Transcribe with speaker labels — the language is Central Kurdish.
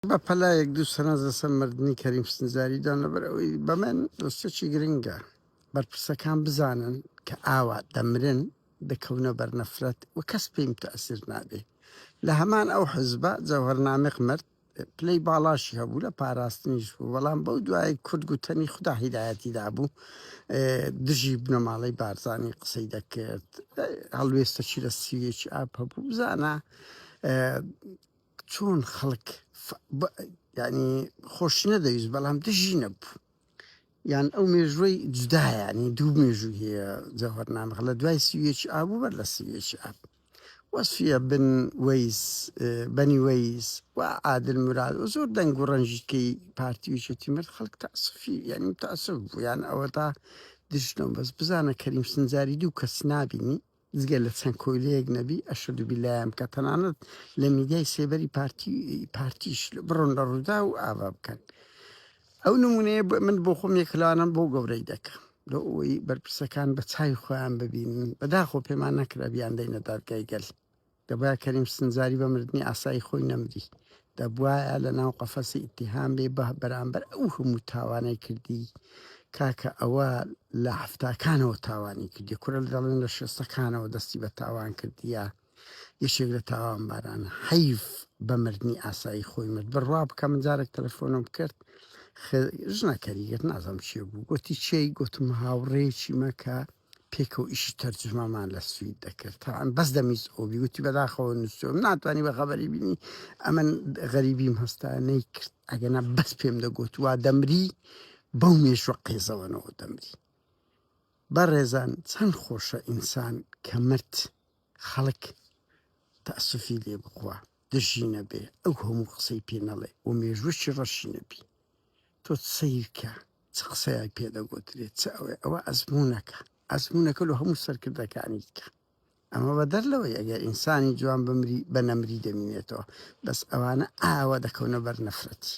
Speaker 1: بە پەلایەک دوو سەرنج لەسەر مردنی کەریم سنجاری دان لەبەر ئەوەی بەمن دۆستێکی گرنگە بەرپرسەکان بزانن کە ئاوا دەمرن دەکەونە بەرنەفرەت و کەس پێیم تەسیر نابێ لە هەمان ئەو حزبە جەوهرنامق مرد پلەی باڵاشی هەبوو لە پاراستنیش بوو بەڵام بەو دوای کورد گوتەنی خوددا هیدایەتی دابوو دژی بنەماڵەی بارزانانی قسەی دەکرد هەڵوێستەچی لە سیوێکی ئاپ هەبوو بزانە چۆن خەڵک یعنی خۆشنەدەویست بەڵام دژی نەبوو یان ئەو مێژوەی جودایانی دوو مێژوو هەیە جەوەرنامەخ لە دوای سیوێکی ئابوو بەر لە سیوێکی ئاب وەسفە بن وەیس بەنی وەیس و عادل مراد و زۆر دەنگ و ڕەنجیتکەی پارتیویچێتی مرد خەڵک تاسفی یعنی تاسف بوو یان ئەوە تا دژنەوە بەس بزانە کەریم سنجاری دوو کەس نبینی جگە لە چەند کۆیلەیەک نەبی ئەشەدو بیلایان بکە تەنانەت لە میدیای سێبەری پارتی پارتیش بڕۆن لە ڕوودا و ئاوا بکەن ئەو نمونەیە بە من بۆ خۆم یەکلانم بۆ گەورەی دەکەم لە ئەوەی بەرپرسەکان بە چای خۆیان ببینن بەداخۆ پێمان نەکرا بیاندەینە دادگای گەل دەبوایە کەریم سنجاری بە مردنی ئاسایی خۆی نەمری دەبوایە لە ناو قەفەسی ئیتیهام بێ بە بەرامبەر ئەو هەموو تاوانەی کردی کاکە ئەوە لە هەفتاکانەوە تاوانی کردی کورە دەڵێن لە شێستەکانەوە دەستی بە تاوان کردیە یەکێک لە تاوان باران حیف بە مردنی ئاسایی خۆی مرد بڕوا بکە من جارێک تەلەفۆنم کرد ژنەکەریگەت نازم چێ بوو گوتی چی گوتم هاوڕێکی مەکە پێکەوە ئیشی تەرجومەمان لە سوید دەکرد تاان بەس دەمیز ئۆبی وتی بەداخەوە نووسم ناتوانانی بە خەبەری بینی ئەمن غەریبیم هەستا نەیکرد ئەگەنا بەس پێم دەگوت وا دەمری بەو مێشوە قێزەوەنەوە دەمری بەڕێزان چەند خۆشە ئینسان کە مرد خەڵک تەسوفی لێ بخوا دژینە بێ ئەو هەموو قسەی پێ نەڵێ و مێژوەشی ڕەشینە بی تۆ سەیرکە چ قسەیەک پێ دەگۆترێت چ ئەوێ ئەوە ئەزمونونەکە ئەزمونونەکە لە هەموو سەرکردەکانی دیکە ئەمە بە دەر لەوەی ئەگەر ئینسانی جوان بمری بە نەمری دەمینێتەوە بەس ئەوانە ئاوە دەکەونە بەر نەفرەتی